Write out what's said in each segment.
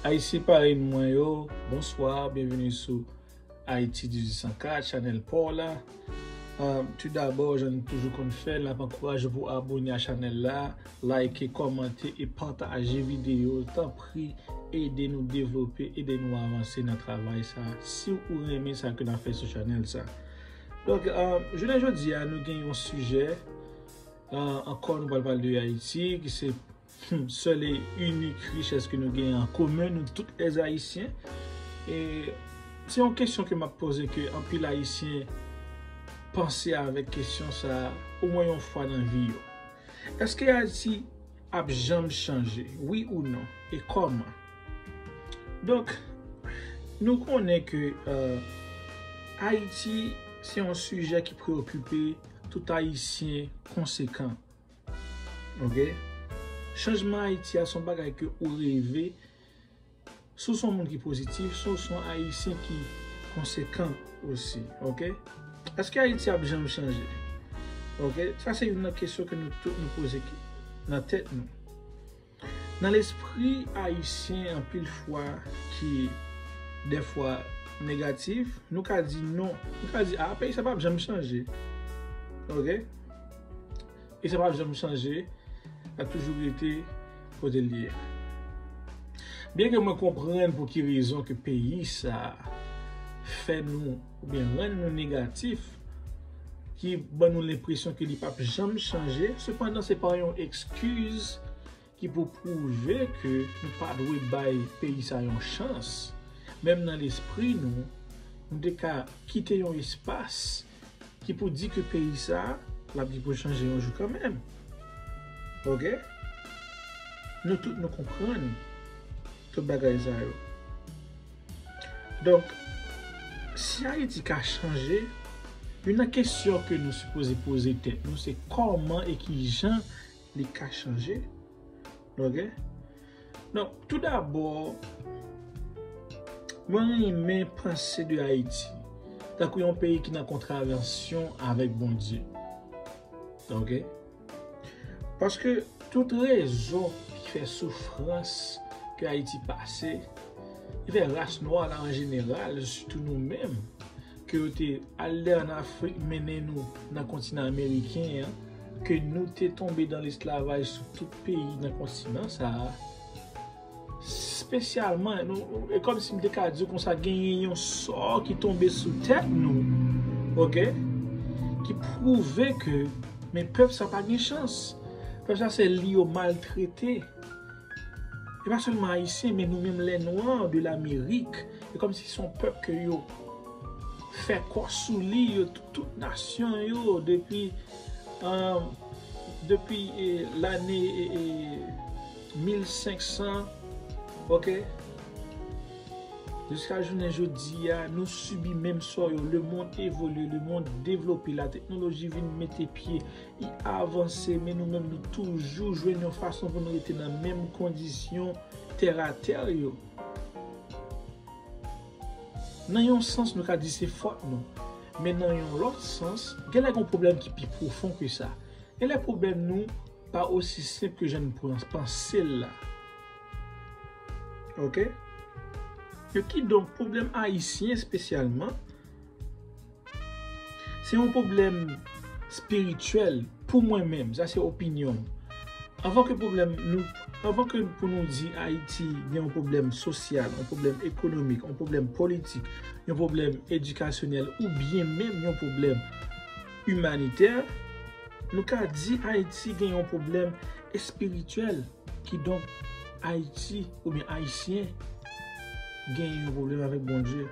Ayisyen parèy mwen yo, bonswa, byenveni sou Ayiti 1804, chanèl pa w la. Tou dabò, jan n toujou konn fè l, n ap ankouraje w pou w abone a chanèl la, layike, kòmante e pataje videyo. Tanpri, ede nou devlope, ede nou avanse nan travay sa a, si ou renmen sa ke n ap fè sou chanèl sa a. Donk, jounen jodi a, nou gen yon sijè, ankò nou pral pale de Ayiti, ki se. Humm sèl e inik richès ke nou gen an komen nou tout lè ayisyen e se yon kesyon ke map poze ke anpil ayisyen panse avèk kesyon sa o mwen yon fwa nan vi yo eske ayiti ap janm chanje wi ou non e kòman donk nou konnen ke ayiti se yon sijè ki preokipe tout ayisyen konsekan. Ok Chanjman Ayiti a son bagay ke ou reve Si w son moun ki pozitif, si w son Ayisyen ki konsekan osi Ok Eske Ayiti ap janm chanje? Ok Sa se youn nan kesyon ke nou tout nou poze nan tèt nou. Nan lespri ayisyen anpil fwa ki dèfwa negatif, nou ka di non, nou ka di a peyi sa pap janm chanje ok, peyi sa pap janm chanje lap toujou rete kote li ye byen ke mwen konprann pou ki rezon ke peyi sa fè nou. oubyen rann nou negatif, ki ban nou lenpresyon ke li p ap janm chanje, sepandan se pa yon ekskiz ki pou pwouve ke nou pa dwe bay peyi sa yon chans. Menm nan lespri nou, nou te ka kite yon espas ki pou di ke peyi sa l ap gen pou l chanje yon jou kanmenm. Ok? Nou tout nou konprann tout bagay sa yo. Donk, si Ayiti ka chanje, youn nan kesyon ke nou sipoze poze tèt nou se kòman e ki jan li ka chanje. Ok? Donk, tou dabò, mwen renmen panse de Ayiti tankou yon peyi ki nan kontravansyon avèk Bondye. Ok? Paske tout rezon ki fè soufrans ke Ayiti pase, ki fè ras nwa la an jeneral, sitou nou menm, ke yo te al dèyè an Afrik mennen nou nan kontinan ameriken an, ke nou te tonbe dan lesklavaj sou tout peyi nan kontinan sa a, Spesyalman, e kòm si m te ka di konsa, genyen yon sò ki tonbe sou tèt nou, ok, ki pwouve ke men pèp sa pa gen chans. Pèp sa se li yo maltrete. E pa sèlman Ayisyen, men nou menm lè nwa de lamerik, e kòm si son pèp ke yo fè kò sou li, yo tout nasyon yo depi, depi lane e... 1500 ok jiska jounen jodia nou sibi menm sò yo le mond evolye le mond devlope la teknoloji vin mete pye li avanse men nou menm nou toujou jwenn yon fason pou nou rete nan menm kondisyon tè a tè yo nan yon sans nou ka di se fòt nou men nan yon lòt sans genlè gon pwoblèm ki pi pwofon ke sa genlè pwoblèm nou pa osi senp ke jan nou panse l la. Ok? E ki donk pwoblèm Ayisyen espesyalman, se yon pwoblèm espirityèl pou mwen menm, sa se opinyon m. Anvan ke pwoblèm nou, anvan ke pou nou di Ayiti gen yon pwoblèm sosyal, yon pwoblèm ekonomik, yon pwoblèm politik, yon pwoblèm edikasyonèl, ou byen menm yon pwoblèm imanitè, Nou ka di Ayiti gen yon pwoblèm espirityèl, kidonk Ayiti oubyen Ayisyen gen yon pwoblèm avèk Bondye.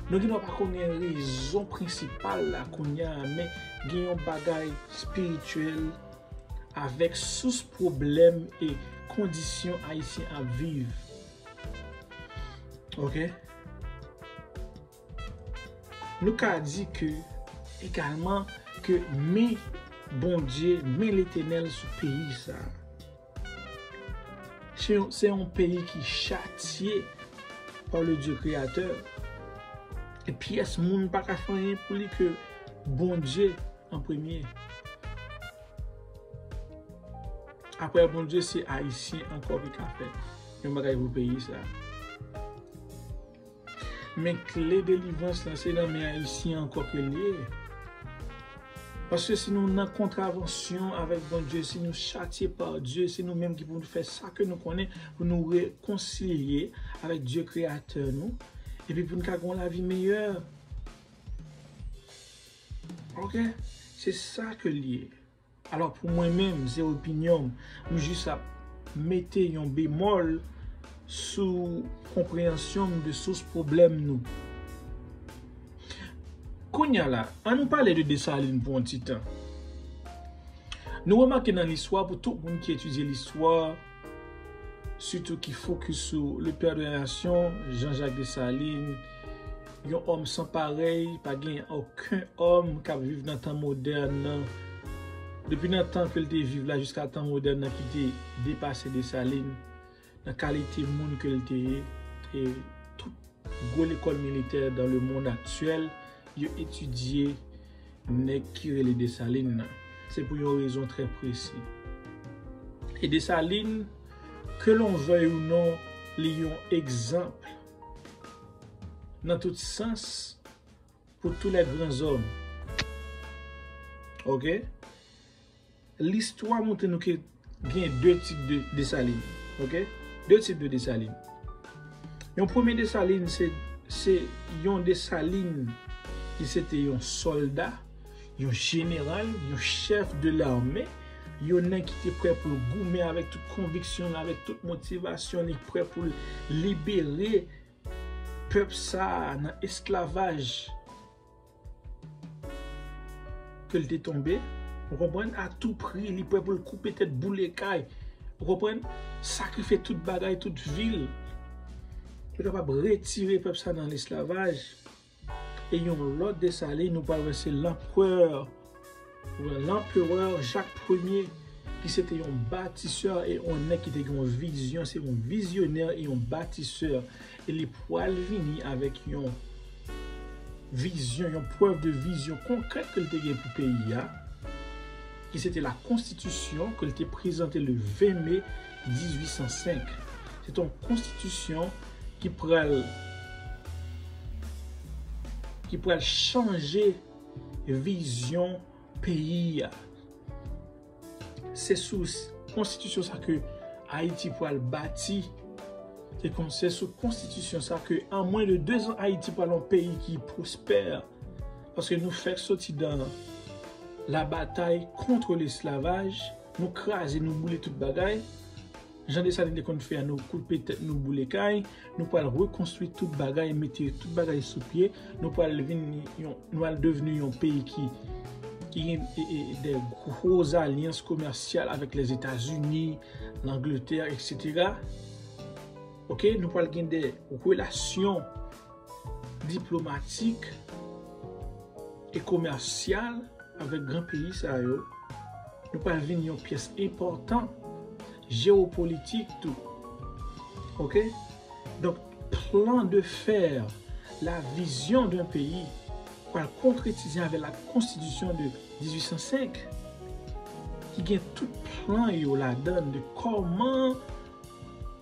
Nou gen dwa pa konnen rezon prensipal la kounye a, men gen yon bagay espirityèl avèk sous pwoblèm e kondisyon Ayisyen ap viv. Ok. Nou ka di ke, egalman, ke men Bondye, men Letenèl sou peyi sa a. Se yon peyi ki chatye pa le Dye Kreyatè. E pyès moun pa ka fè anyen pou li ke Bondye an premye. Aprè Bondye, se Ayisyen ankò ki ka fè yon bagay pou peyi sa a. Men kle delivrans la se nan men ayisyen ankò ke liye. Paske si nou nan kontravansyon avèk Bondye, si nou chatye pa Dye, se nou menm ki pou nou fè sa ke nou konnen pou nou rekonsilye avèk Dye kreyatè nou, epi pou nou ka gen yon lavi meyè. Ok, se sa ke liye. Alò pou mwen menm, se opinyon m, m jis ap mete yon bemòl sou konpreyansyon m de sous pwoblèm nou. Kounya la, an nou pale de Desalin pou yon ti tan. Nou remake nan listwa, pou tout moun ki etidye listwa, sitou ki fokis sou le père de la nation, Jean Jacques Dessalines, yon òm san parèy, pa gen oken òm k ap viv nan tan modèn nan, depi nan tan ke l te viv la jiska tan modèn nan ki te depase Dessalines nan kalite moun ke l te ye, e tout gwo lekòl militè dan le mond aktyèl yo etidye. Nèg ki rele Desalin nan, se pou yon rezon trè presi. E Desalin, ke lon vèy ou non, li yon egzanp nan tout sans pou tou lè gran zòm. Ok? Listwa montre nou ke gen 2 tip de Desalin. Ok? 2 tip de Desalin. Yon premye Desalin se yon Desalin ki se te yon solda, yon jeneral, yon chèf de lame, yon nèg ki te prè pou l goumen avèk tout konviksyon, avèk tout motivasyon li prè pou l libere pèp sa nan esklavaj. Ke l te tonbe, ou konprann, a tou pri, li prè pou l koupe tèt, boule kay, ou konprann, sakrifye tout bagay, tout vi l, pou l kapab retire pèp sa nan lesklavaj. E yon lòt Desalin, nou pral wè se lanprè. Nan L'Empereur Jacques Ier ki se te yon batisè e yon nèg ki te gen yon vizyon, se yon vizyonè e yon batisè e li pwal vini avèk yon vizyon, yon prèv de vizyon konkrèt ke li te gen pou peyi a ki se te la konstitisyon ke li te prezante le 20 mai 1805. Se te yon konstitisyon ki pral ki pral chanje vizyon peyi a. Se sou konstitisyon sa ke Ayiti pral bati, se sou konstitisyon sa ke an mwen de 2 zan Ayiti pral yon peyi ki pwospè, paske nou fèk soti dan la batay kontre lesklavaj, nou kraze, nou boule tout bagay. Jan Desalin te konn fè an nou koupe tèt nou boule kay, nou pral rekonstwi tout bagay mete tout bagay sou pye, nou pral vin yon nou al devni yon peyi ki ki gen de gwo zalyans komèsyal avèk Lèzetazini, Langletè, eksetera. Ok, nou pral gen de relasyon diplomatik e komèsyal avèk gran peyi sa yo, nou pral vin yon pyès enpòtan jewopolitik tou. Ok, donk plan de fer la vizyon d'un peyi pral konkretize avèk la konstitisyon de 1805 ki gen tout plan yo ladann de kòman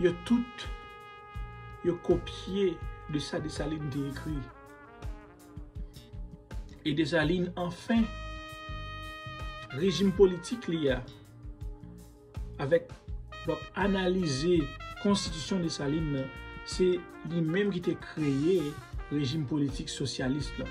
Yo tout yo kopye de sa Desalin te ekri. E Desalin anfen, rejim politik li a, avèk l ap analize konstitisyon Desalin nan, se li menm ki te kreye rejim politik sosyalis lan.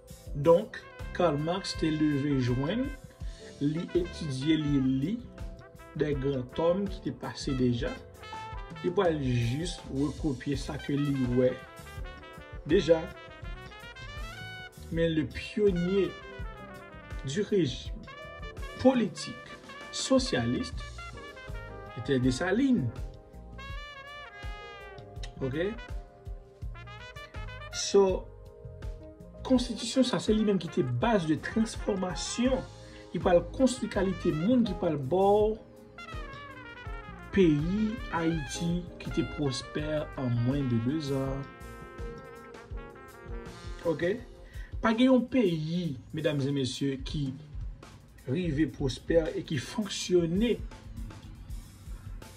Donk, Karl Marx te leve jwenn, li etidye li li de gran tòm ki te pase deja, li pral jis rekopye sa ke li wè deja. Men le pyonye di rejim politik sosyalist etè Dessalines. Ok? So, konstitisyon sa se li menm ki te baz de transfòmasyon ki pral konstwi kalite moun ki pral ba w peyi Ayiti ki te pwospè an mwen de dezan. Ok? Pa gen yon peyi, medam e mesye, ki rive pwospè e ki fonksyone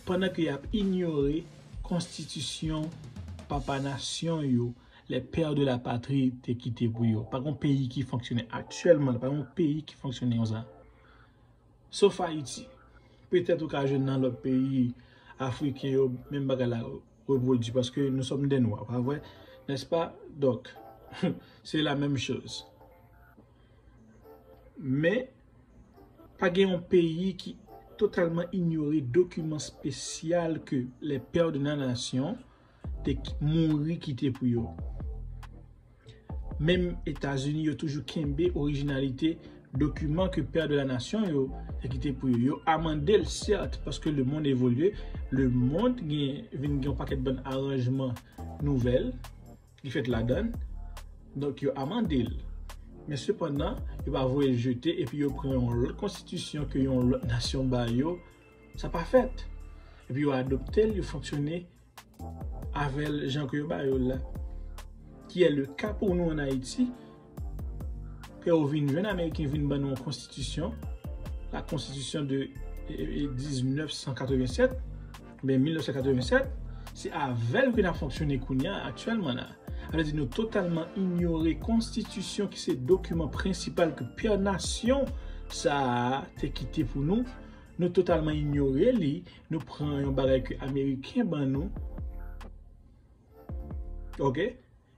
pandan ke y ap inyore konstitisyon papa nasyon yo, les pères de la patrie te kite pou yo. Pa gen yon peyi ki fonksyone aktyèlman, pa gen yon peyi ki fonksyone konsa. Sof Ayiti. Petèt ou ka jwenn nan lòt peyi afriken yo, menm bagay la repwodui paske nou sòm dè nwa, pa vre? Nèspa? Donk, se la menm choz. Men, pa gen yon peyi ki totalman inyore dokiman spesyal ke le Père de la Nation te mouri kite pou yo. Menm Etazini yo toujou kenbe orijinalite dokiman ke Père de la Nation yo te kite pou yo. Yo amande l sèt, paske le mond evolye, le mond vin gen yon pakèt bann aranjman nouvèl, Li fèt ladan, donk yo amande l. Men sepandan, yo pa voye l jete epi yo pran yon lòt konstitisyon ke yon lòt nasyon ba yo, sa pa fèt. Epi yo adopte l, yo fonksyone avè l jan ke yo ba yo l la. Ki è le ka pou nou an Ayiti. Ke ou vin jwenn Ameriken vin ban nou yon konstitisyon, la konstitisyon de 1987, oubyen 1987, se avèl ke nan fonksyone kounya aktyèlman la. Sa vle di nou totalman inyore konstitisyon ki se dokiman prensipal ke pè nasyon sa a te kite pou nou, nou totalman inyore li, nou pran yon bagay ke Ameriken ban nou. Ok.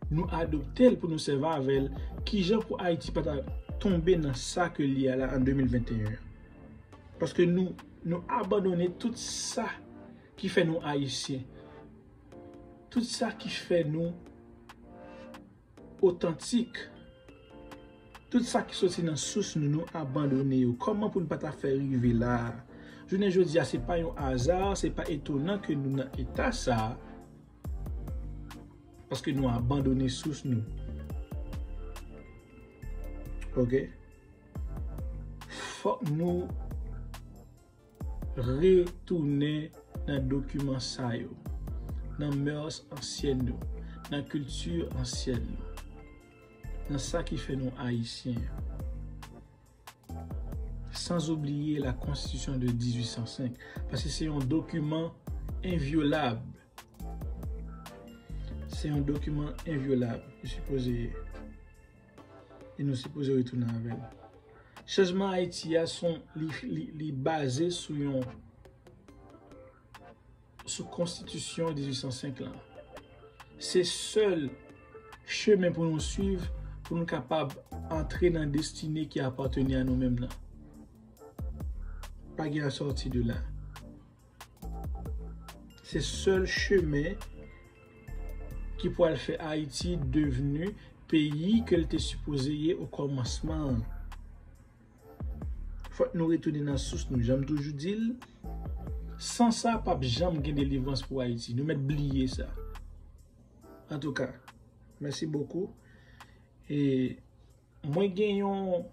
Nou adoptel pou nou sèvi avèl kijan pou ayiti pata tonbe nan sa ke li ya la an 2021 an paske nou nou abandone tout sa ki fè nou ayisyen tout sa ki fè nou otantik tout sa ki soti nan sous nou nou abandone yo kòman pou nou pata fè rive la jounen jodi ya se pa yon aza se pa etonan ke nou nan eta sa. Paske nou abandone sous nou. Ok. Fok nou retounen nan dokiman sa yo. Nan mœurs ansyen yo. Nan kilti ansyen yo. Nan sa ki fè nou ayisyen. Sans oubliye la konstitisyon de 1805, paske se yon dokiman envyolab. Se yon dokiman envyolab, li sipoze ye. E nou sipoze retounen avèl. Chanjman Ayiti a son li baze sou yon sou konstitisyon 1805 lan. Se sèl chemen pou nou swiv pou nou kapab antre nan destine ki apateni a nou menm nan. Pa gen asòti de la. Se sèl chemen ki pou al fè Ayiti devni peyi ke l te sipoze ye o kòmansman an. Fòk nou retounen nan sous nou janm toujou dil san sa pap janm gen delivrans pou ayiti nou mèt bliye sa antouka mèsi bokou e mwen gen yon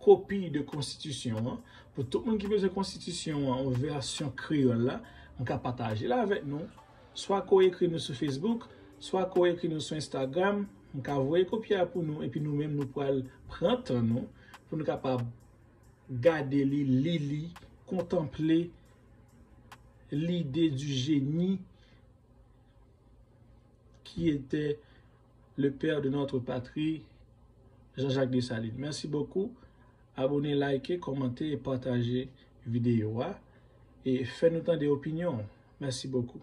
kopi de konstitisyon an pou tout moun ki bezwen konstitisyon an yon vèsyon kreyòl la mwen ka patajel avèk nou. Swa ke w ekri nou sou Facebook, swa ke w ekri nou sou Instagram, m ka voye kopi a pou nou epi nou menm nou pral pran tan nou pou nou kapab gade li, li li, kontanple l'idée du génie qui était le père de notre patrie Jean-Jacques Dessalines. Merci beaucoup. Abone like kòmante e pataje video a e fè nou tande opinyon ou mèsi bokou.